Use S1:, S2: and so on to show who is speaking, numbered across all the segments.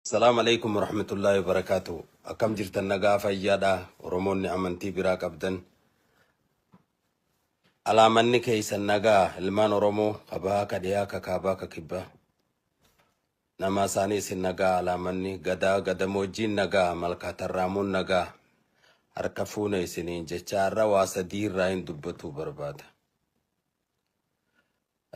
S1: Salaam Aleeykum Warahmatullaahi Wabarakaatuhu Akkam jirtan nagaa fayyaadha Oromoonni amantii biraa qabdan alaamanni keeysan nagaa ilmaan Oromoo ka bahaa ka dhiyaa ka kaabaa ka kibbaa namaa isaanii isin nagaa alaamanni gadaa gadamoojjiin nagaa malkaa tarraamuun nagaa harka fuune isiniin jechaa irra waa sadii irraa hin dubbatuu barbaada.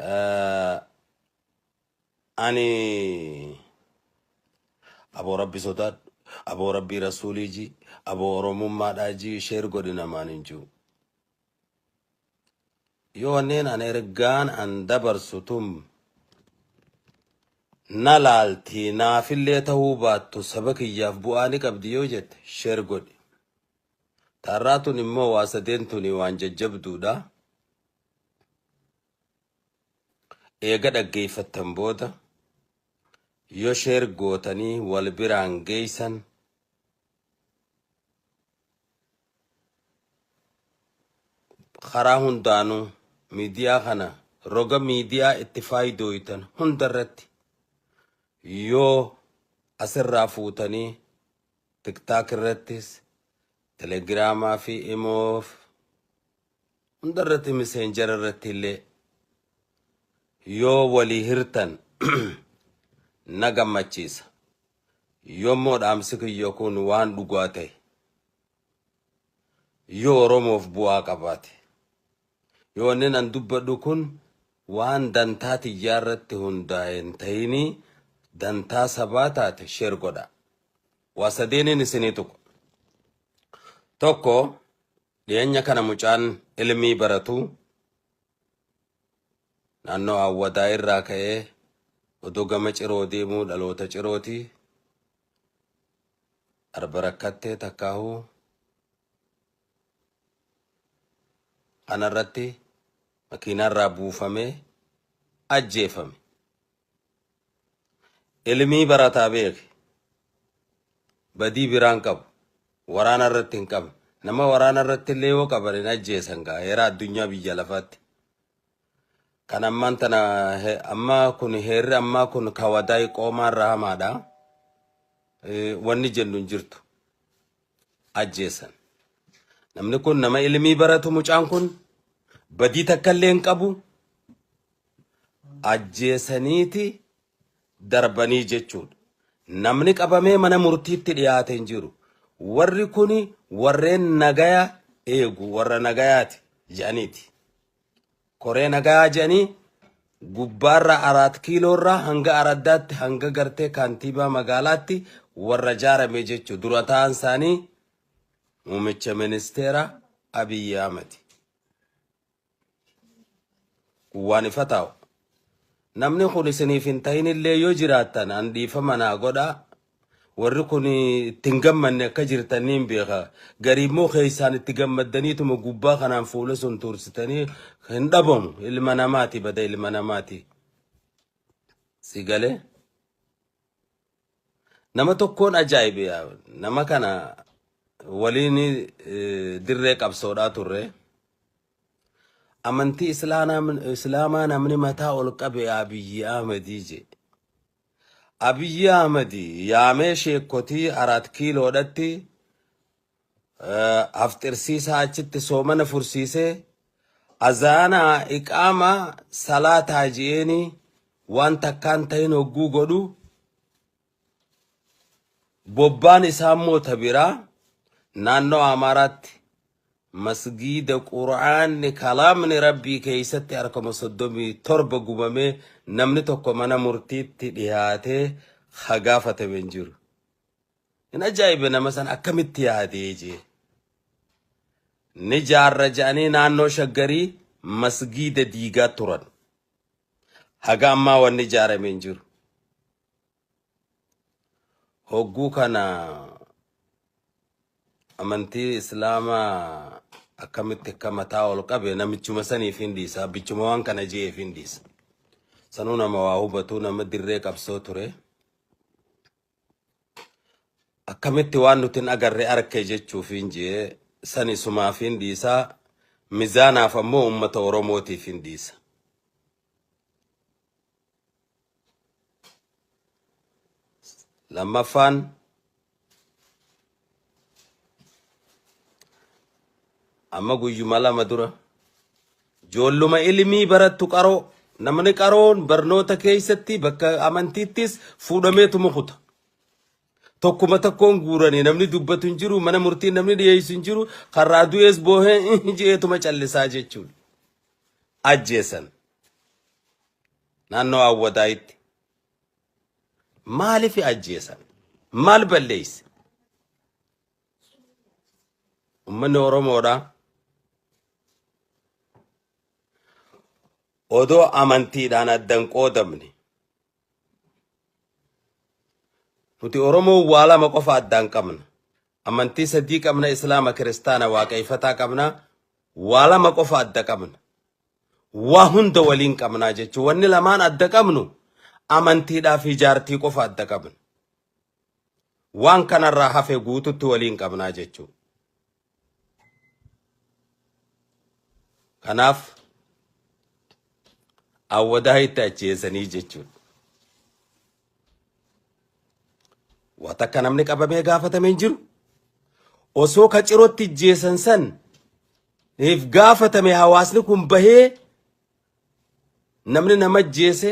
S1: Eh, Ani aboo rabbi sodaadhu aboo rabbii rasuulii jii aboo oromummaadhaa jii sheer godhi namaan hin jiru. Yoo wanneen an ergaan an dabarsu tun na laaltii naafillee ta'uu baattu saba kiyyaaf bu'aa ni qabdi yoo jette sheer godhi. Taarraa tun immoo waa sadeen tuni waan jajjabduudha. Eega dhaggeeffattan booda yoo share gootanii wal biraan geeysan karaa hundaanuu miidiyaa kana roga miidiyaa itti faayidooytan hunda irratti yoo asirraa fuutanii tiktaak irrattis telegiraamaa fi imoof Hunda irratti miseenjara irratti illee yoo walii hirtan na gammachiisa. Yommuu dhaamsi kiyya kun waan dhugaa ta'e, yoo Oromoof bu'aa qabaate, yoo wanni nan dubbadhu kun waan dantaa tiyyaa irratti hundaa'e hin ta'inii dantaa sabaa taate sheer godha. Waa sadeeniin isinii tuqu. Tokko Dhiyeenya kana mucaan Ilmii baratu naannoo Awwadaa irraa ka'ee odoo gama Ciroo deemuu dhaloota Cirooti. Arba rakkattee takkaahu kanarratti makiinaarraa buufamee ajjeefame. Ilmii barataa beeki badii biraa hin qabu waraana irratti hin qabne nama waraana irratti illee yoo qaban hin ajjeesan gaa heera addunyaa biyya lafaatti kan ammaan tana he- ammaa kun heerri ammaa kun kawadaa qoomaa irraa hamaadha Eh, wanni jennu hin jirtu ajjeesan namni kun nama ilmii baratu mucaan kun badii takka illee hin qabu ajjeesaniiti darbanii jechuudha. Namni qabamee mana murtiitti dhiyaate hin jiru. Warri kun warreen nagaya eegu warra nagayaati jedhaniiti. Koree nagayaa jedhanii gubbaarraa araat kiiloorraa hanga araddaatti hanga gartee kaantiibaa magaalaatti warra jaarame jechuudha. Dura ta'an isaanii muummicha ministeera Abiyyi Ahmadi. Waan ifa taa'u. Namni kun isiniif hin ta'inillee yoo jiraattan an dhiifama naa godhaa. Warri kun itti hin gammanne akka jirtan niin beeka. Garii immoo keessaan itti gammaddaniituma gubbaa kanaan fuula sun tuursitanii hin dhabamu. Ilma namaati bada ilma namaati. Si galee? Nama tokkoon ajaa'ibe yaa nama kana waliin eh, dirree qabsoodhaa turre. Amantii Islaanaa- Islaamaa namni mataa ol qabe Abiyyi Ahmedii jee. Abiyyi Ahmedii yaamee sheekkotii Araat Kiiloodhatti afxirsiisaa achitti soomana fursiisee azaana iqaama salaataa ji'eenii waan takkaan tahin hogguu godhu bobbaan isaa immoo ta biraa naannoo Amaaraatti masgiida qura'aanni kalaamni rabbii keessatti harkama soddomii torba gubamee namni tokko mana murtiitti dhihaatee hagaafatame hin jiru. Hin ajaa'ibe nama san akkamitti yaadee jee. Ni jaarra ja'anii naannoo shaggarii masgiida diigaa turan. Haga ammaa wanni ijaarame hin jiru. Hogguu kana amantii islaamaa akkamitti akka mataa ol qabe namichuma saniif hin dhiisa. Abbichuma waan kana je'eef hin dhiisa. Sanuu nama waa hubatuu nama dirree qabsoo ture. akkamitti waan nuti hin agarre arke jechuufiin jee sani sumaafiin dhiisaa mizaanaaf ammoo ummata oromootiif hin dhiisa lammaffaan Amma guyyuma lama dura joolluma ilmii barattu qaroo namni qaroon barnoota keessatti bakka amantiittis fuudhamee tumukuta. Tokkuma tokkoon guuranii namni dubbatu hin jiru mana murtii namni dhiyeessu hin jiru karraa du'ees boohee jeetuma callisaa jechuudha. Ajjeesan naannoo Awwadaayitti Maalifi ajjeesan? Maal balleesse? Ummanni Oromoodha. Odoo amantiidhaan addan qoodamne. Nuti Oromoon waa lama qofa addaan qabna. Amantii sadii qabna, Islaama, Kiristaana, Waaqeeffataa qabna. Waa lama qofa adda qabna. waa hunda waliin qabnaa jechuun wanni lamaan adda qabnu amantiidhaa fi jaartii qofa adda qabna. Waan kanarraa hafe guututti waliin qabnaa jechuu. Kanaaf awwadaa itti ajjeesanii jechuudha. Waa takka namni qabamee gaafatame hin jiru. Osoo ka cirootti ijjeessan san if gaafatame hawaasni kun bahee namni nama ajjeese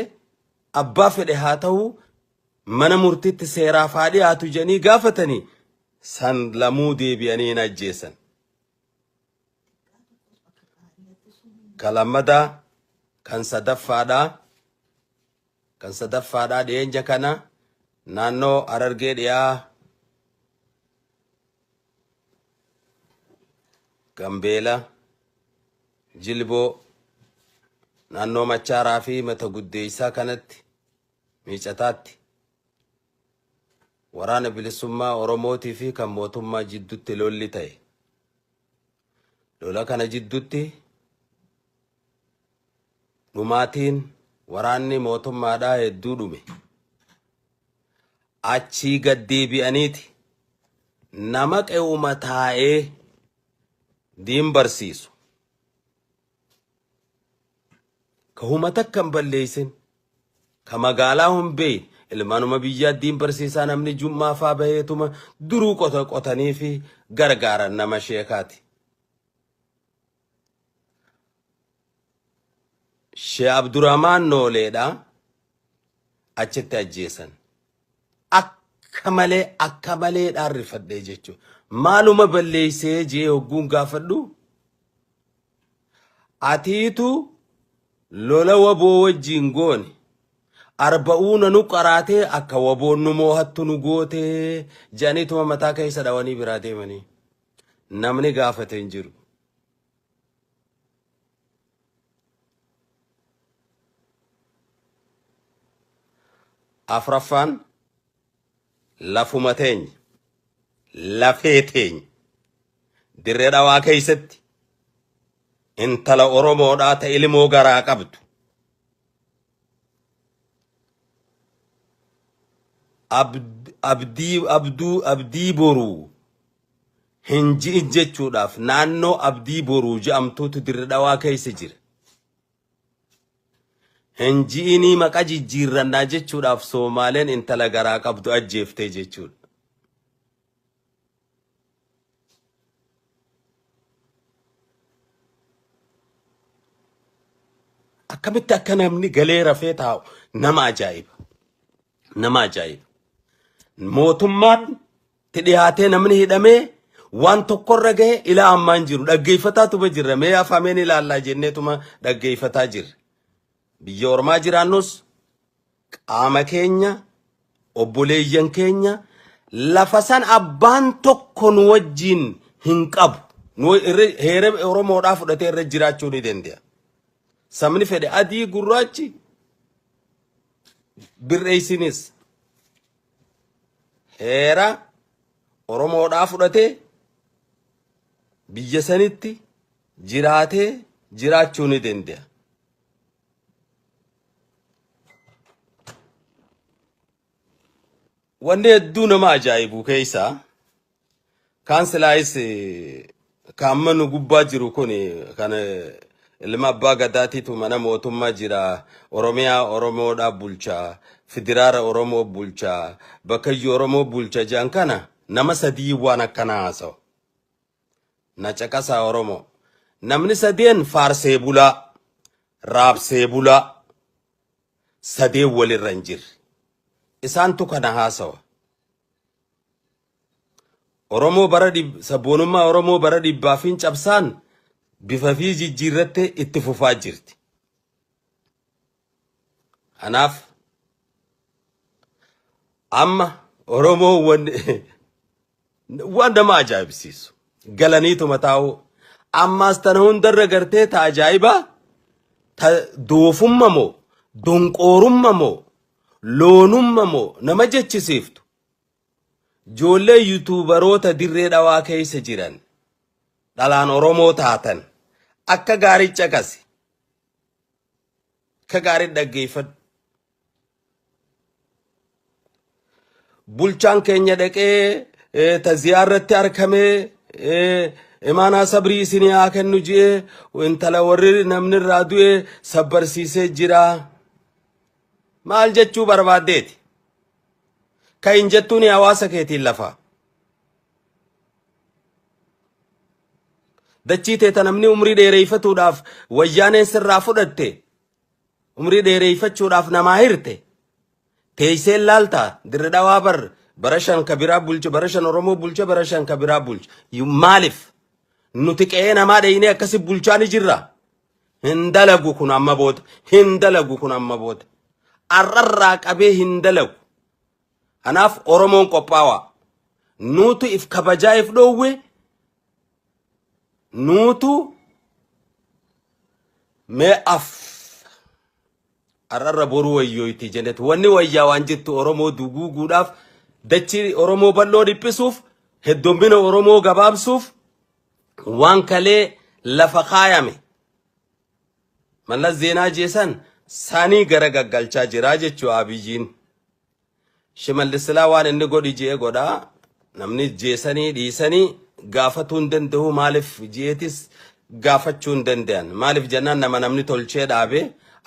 S1: abbaa fedhe haa ta'u mana murtiitti seeraaf haa dhiyaatu jedhanii gaafatanii san lamuu deebi'anii hin ajjeessan. Ka lammadaa kan sadaffaadhaa Kan sadaffaadha dhiyeenya kana naannoo Harargee dhiyaa Gambeela, Jilboo, naannoo Machaaraa fi Mata Guddeessaa kanatti miicataatti waraana bilisummaa Oromootii fi kan mootummaa jiddutti lolli ta'e. Lola kana jiddutti dhumaatiin waraanni mootummaadhaa hedduu dhume. Achii gad deebi'aniiti nama qe'uma taa'ee diin barsiisu ka huma takka hin balleessin, ka magaalaa hin beeyin, ilmaanuma biyyaa diin barsiisaa namni jum'aa faa baheetuma duruu qota qotanii fi gargaaran nama sheekaati. Shee Abdurahmaan Nooleedha achitti ajjeesan. akka malee akka malee dhaan rifadhee jechuudha. Maaluma balleessee jee hogguun gaafadhu atiitu lola waboo wajjiin goone arba'uuna nu qaraatee akka waboon nu moohattu nu gootee jedhaniituma mataa keessa dhawanii biraa deemanii namni gaafate hin jiru. Afraffaan lafuma teenya, lafee teenya dirree dhawaa keessatti intala Oromoodhaa ta ilmoo garaa qabdu. Abd- Abdii abduu abdii boruu hin ji'ijjechuudhaaf naannoo Abdii Boruu je'amtuutu Dirre Dhawaa keessa jira. Hin ji'inii maqa jijjiirrannaa jechuudhaaf Soomaaleen intala garaa qabdu ajjeeftee jechuudha. Akkamitti akka namni galee rafee taa'u nama ajaa'iba. Nama ajaa'iba. Mootummaan ti dhihaatee namni hidhamee waan tokkorra gahe ilaa ammaan jiru dhaggeeffataatuma jirra mee afameen ilaallaa jenneetuma dhaggeeffataa jirra biyya ormaa jiraannus qaama keenya obboleeyyan keenya lafa san abbaan tokko nu wajjiin hin qabu nu irra heera oromoodhaa fudhatee irra jiraachuu ni danda'a sabni fedhe adii gurraachi birreessinis heera Oromoodhaa fudhatee biyya sanitti jiraatee jiraachuu ni danda'a. Wanni hedduu nama ajaa'ibuu keessaa Kaan silaayis ka amma nu gubbaa jiru kun kan ilma abbaa gadaatiitu mana mootummaa jira oromiyaa oromoodhaa bulcha fidiraara oromoo bulcha bakkayyuu oromoo bulcha jedhan kana nama sadii waan akkanaa haasawa na caqasaa oromoo namni sadeen faarsee bulaa raabsee bulaa sadeen walirra hin jirre isaantu kana haasawa Oromoo bara dhib- sabboonummaa Oromoo bara dhibbaa fi cabsaan bifa fi jijjiirrattee itti fufaa jirti. Kanaaf amma Oromoo wan- waan nama ajaa'ibsiisu galaniituma taa'uu ammaas tana hundarra gartee ta ajaa'ibaa ta doofumma moo donqoorumma moo loonumma moo nama jechisiiftu Ijoollee yuutuubaroota dirree dhawaa keessa jiran dhalaan Oromoo taatan akka gaarii caqasi. Akka gaarii dhaggeeffadhu. Bulchaan keenya dhaqee eh, taziyaa irratti arkamee eh, imaanaa sabrii isinii haa kennu ji'ee intala warri namni irraa du'e sabbarsiisee jira. Maal jechuu barbaaddeeti? ka hin jettuuni hawaasa keetiin lafaa. Dachii teeta namni umrii dheereeffatuudhaaf wayyaaneen sirraa fudhatte umrii dheereeffachuudhaaf namaa hirte teessee laaltaa dirri dhawaa bar bara shan ka biraa bulche bara shan Oromoo bulche bara shan ka biraa bulche maaliif nuti qe'ee namaa dheeynee akkasi bulchaa ni jirra Hin dalagu kun amma booda. Hin dalagu kun amma booda. Arrarraa qabee hin dalagu. Kanaaf Oromoon qophaawaa. Nuutu if kabajaa if dhoowwe. Nuutu mee af. Arrarra boruu wayyooyti jenet. Wanni wayyaa waan jettu Oromoo duguuguudhaaf dachii Oromoo bal'oo dhiphisuuf heddommina Oromoo gabaabsuuf Waan kalee lafa kaayame Mallas Zeenaa jeesan sanii gara gaggalchaa jiraa jechuu Abiyiin. Shimallis silaa waan inni godhi je'e godha. Namni jeesanii dhiisanii gaafatuu hin danda'u maaliif je'etis gaafachuu hin danda'an. Maaliif jennaan nama namni tolchee dhaabe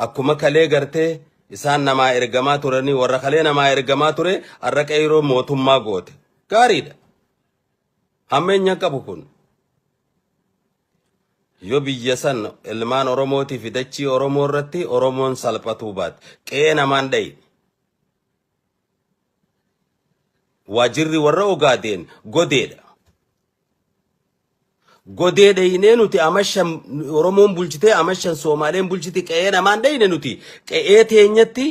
S1: akkuma kalee gartee isaan namaa ergamaa turanii warra kalee namaa ergamaa ture har'a qeyroo mootummaa goote. Gaariidha. Hammeenya qabu kun yoo biyya san ilmaan Oromootii fi dachii Oromoo irratti Oromoon salphatuu baate qe'ee namaan dhayi. Waajirri warra ogaadeen godeedha. Godee dhayinee nuti amashan Oromoon bulchitee amashan Soomaaleen bulchiti qe'ee namaan dhayine nuti qe'ee teenyatti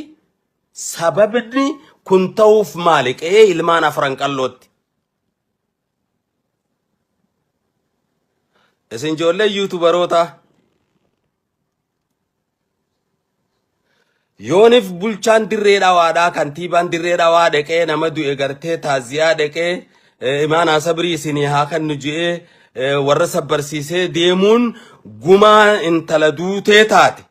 S1: sababni kun ta'uuf maali qe'ee ilmaan afran qallootti Isin ijoollee yuutubarootaa yoonif bulchaan dirree dhawaadhaa kantiibaan dirree dhawaa dhaqee nama du'e gartee taaziyaa dhaqee eh, imaanaa sabrii isinii haa kannu je'ee eh, warra sabbarsiisee deemuun gumaa intala duutee taate.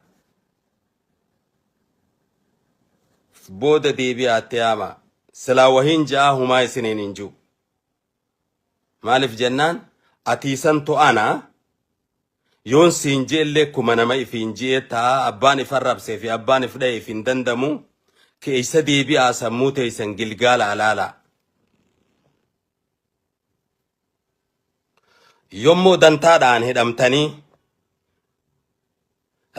S1: booda deebi'aa itti yaamaa silaa wahiin ja'aa humaa isiniin hin jiru maaliif jennaan atiisan to'ana yoon siin je'ellee kuma nama ifiin je'ee ta'a abbaan if arrabsee fi abbaan if dha'e if hin dandamu keeysa deebi'aa sammuu teeysan gilgaala alaala yommoo dantaadhaan hidhamtanii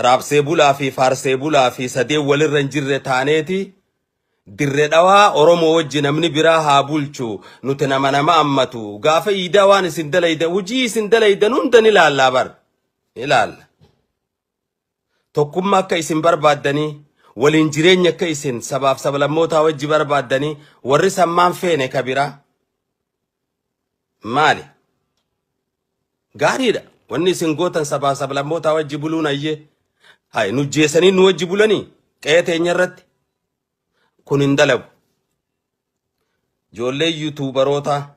S1: Raabsee bulaa fi faarsee bulaa fi sadeen walirra hin jirre taaneeti Dirre dhawaa Oromoo wajji namni biraa haa bulchu nuti nama nama ammatu gaafa iidaa waan isin dalaydan hujii isin dalaydan hunda ni laallaa bar ni laalla tokkummaa akka isin barbaaddanii waliin jireenya akka isin sabaaf sablammootaa wajji barbaaddanii warri sammaan feene ka biraa maali Gaariidha. Wanni isin gootan sabaa sablammootaa wajji buluun ayyee. Hay nu jeesanii nu wajji bulanii qe'ee teenya irratti kun hin dalagu. Ijoollee yuutuubarootaa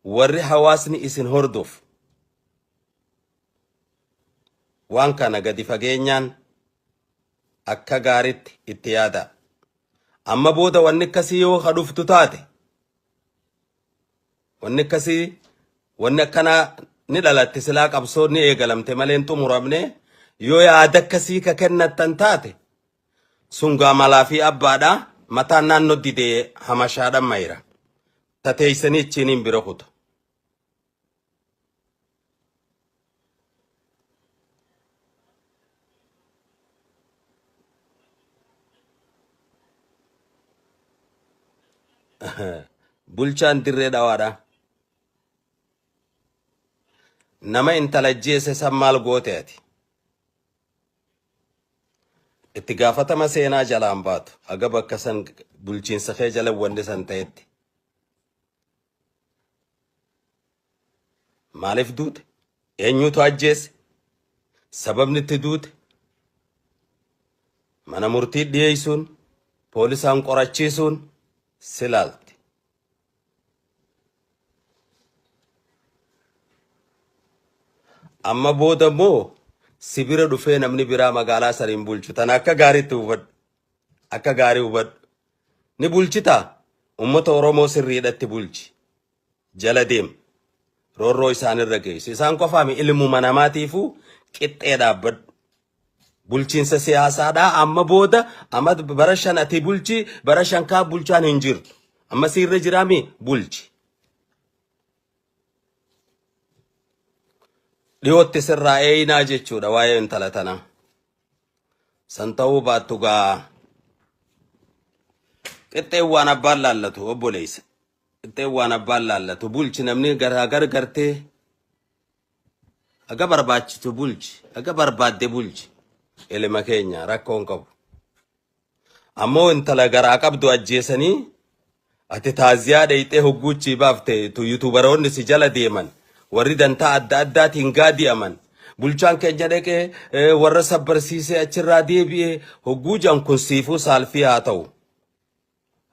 S1: warri hawaasni isin hordofu waan kana gadi fageenyaan akka gaariitti itti yaadaa. Amma booda wanni akkasii yoo ka dhuftu taate Wanni akkasii wanni akkanaa ni dhalatte silaa qabsoon ni eegalamte malee hin xumuramne yoo yaada akkasii ka kennattan taate sungaa malaa fi abbaadha mataan naannoo didee hamashaadhan mayra tateeysanii ichiiniin bira kuta. Bulchaan dirree dhawaadha. Nama intala ajjeese san maal goote ati? Itti gaafatama seenaa jalaan baatu. Haga bakka san bulchiinsa kee jala wanni san ta'etti. Maaliif duute? Eenyutu ajjeese? Sababni itti duute? Mana murtii dhiyeessuun, poolisaan qorachiisuun si laalti. Amma booda immoo si bira dhufee namni biraa magaalaa saniin bulchu tana akka gaariitti hubadhu. Akka gaarii hubadhu. Ni bulchitaa? Uummata Oromoo sirriidhatti bulchi. Jala deem. Roorroo isaanirra geessi. Isaan qofaa mi ilmuma namaatiifuu qixxee dhaabbadhu. Bulchiinsa siyaasaadhaa amma booda amma bara shan ati bulchi bara shan kaa bulchaan hin jirtu. Amma siirra jiraa mi bulchi. Dhiyootti sirraa eeyinaa jechuudha waa'ee intala tanaa. San ta'uu baattu gaa qixxeen waan abbaan laallatu obboleessa. Qixxeen waan abbaan laallatu bulchi namni garaa gargartee haga barbaachitu bulchi haga barbaadde bulchi ilma keenya rakkoon qabu. Ammoo intala garaa qabdu ajjeesanii ati taaziyaa dheyxee hogguuchii baafte tu yutubaroonni si jala deeman warri dantaa adda addaatiin gaadi'aman bulchaan keenya dhaqee eh, warra sabbarsiisee achirraa deebi'ee hogguu jan kun siifuu saalfii haa ta'u.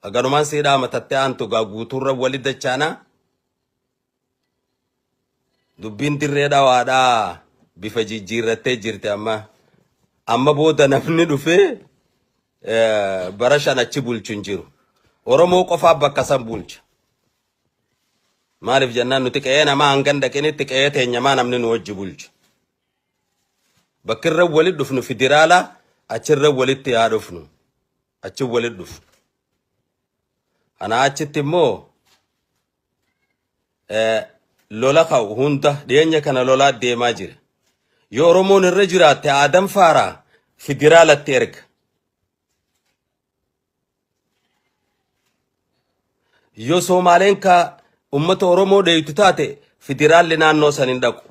S1: Haganumaan siidhaa matattee aantu gaa guutuurra wali dachaanaa. Dubbiin dirree dhawaadhaa bifa jijjiirrattee jirti amma. Amma booda namni dhufee eh, bara shan achi bulchu hin jiru. Oromoo qofaa bakka san bulcha. Maaliif jennaan nuti qe'ee namaa hangan dhaqinitti qe'ee teenyamaa namni nu wajji bulchu. Bakki irra walitti dhufnu federaala achirra walitti haa dhufnu. Achi walitti dhufnu. Anaa achitti immoo eh, lola ka'u hunda dhiyeenya kana lolaa deemaa jira. Yoo Oromoon irra jiraatte Aadam Faaraa federaalatti erga. Yoo Soomaaleen ka uummata Oromoo dheeytu taate federaalli naannoo san hin dhaqu.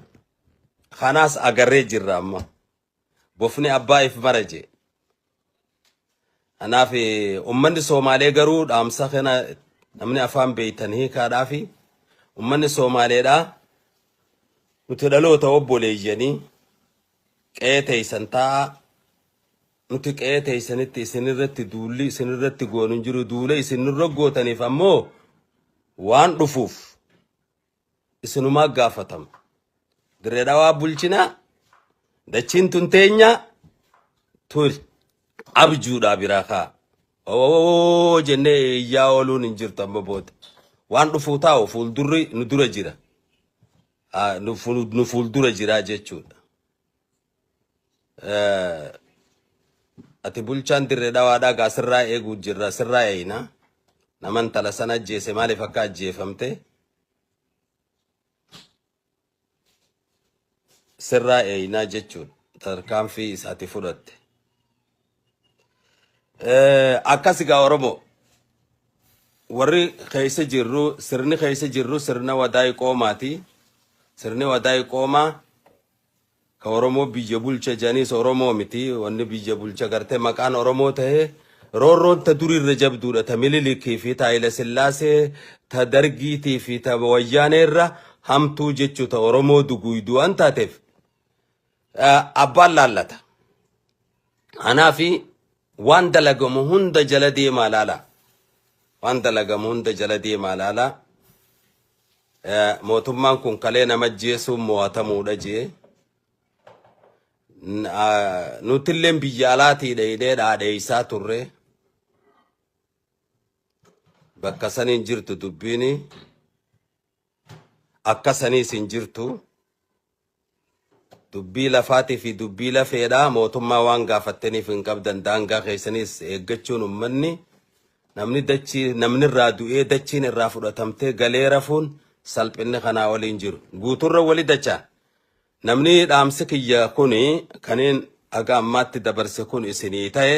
S1: Kanaas agarree jirra amma. bofni abbaa if bara jee. Kanaaf ummanni Soomaalee garuu dhaamsa kana namni afaan beektan hiikaadhaafi ummanni Soomaaleedhaa nuti dhaloota obboleeyyanii qe'ee teeysan taa'aa nuti qe'ee teeysanitti isinirratti duulli isinirratti goonu hin jiru duula isinirra gootaniif ammoo waan dhufuuf isinumaa gaafatama. Dirree dhawaa bulchinaa dachiin tun teenyaa turi abjuudhaa biraa kaa. Oo jennee iyyaa ooluun hin jirtu amma booda. Waan dhufuu taa'u fuuldurri nu dura jira. Ah, Nu fuul- nu fuuldura jira jechuudha. Eh, Ati bulchaan dirree dhawaadhaa gaa sirraa eeguu jirra sirraa eeyna. Nama intala sana ajjeese maaliif akka ajjeefamte sirraa eeynaa jechuudha. Tarkaanfii isaati fudhatte. Eh, Akkas gaa Oromoo. warri keessa jirru sirni keessa jirru sirna wadaay qoomaati. Sirni wadaay qoomaa Ka oromoo biyya bulcha janiis oromoo miti wanni biyya bulcha garte maqaan oromoo tahe roorroon ta duri irra jabduudha ta mililikii fi ta hayila sillaasee ta dargiitii fi ta wayyaanee irra hamtuu jechu ta oromoo duguuyduu waan taateef abbaan laallata anaa fi waan dalagamu hunda jala deemaa laala waan dalagamu hunda jala deemaa laala Mootummaan kun kalee nama ajjeesuun mo'atamuudha jee nutilleen biyya alaatii dheeynee dhaadheeysaa turre bakka saniin jirtu dubbiin akka saniis hin jirtu Dubbii lafaati fi dubbii lafeedha. Mootummaa waan gaafattaniif hin qabdan. Daangaa keessanis eeggachuun ummanni namni dachii namni irraa du'ee dachiin irraa fudhatamtee galee rafuun salphinni kanaa olii hin jiru. Guuturra wali dacha. Namni dhaamsi kiyya kuni kaniin haga ammaatti dabarse kun isinii ta'e.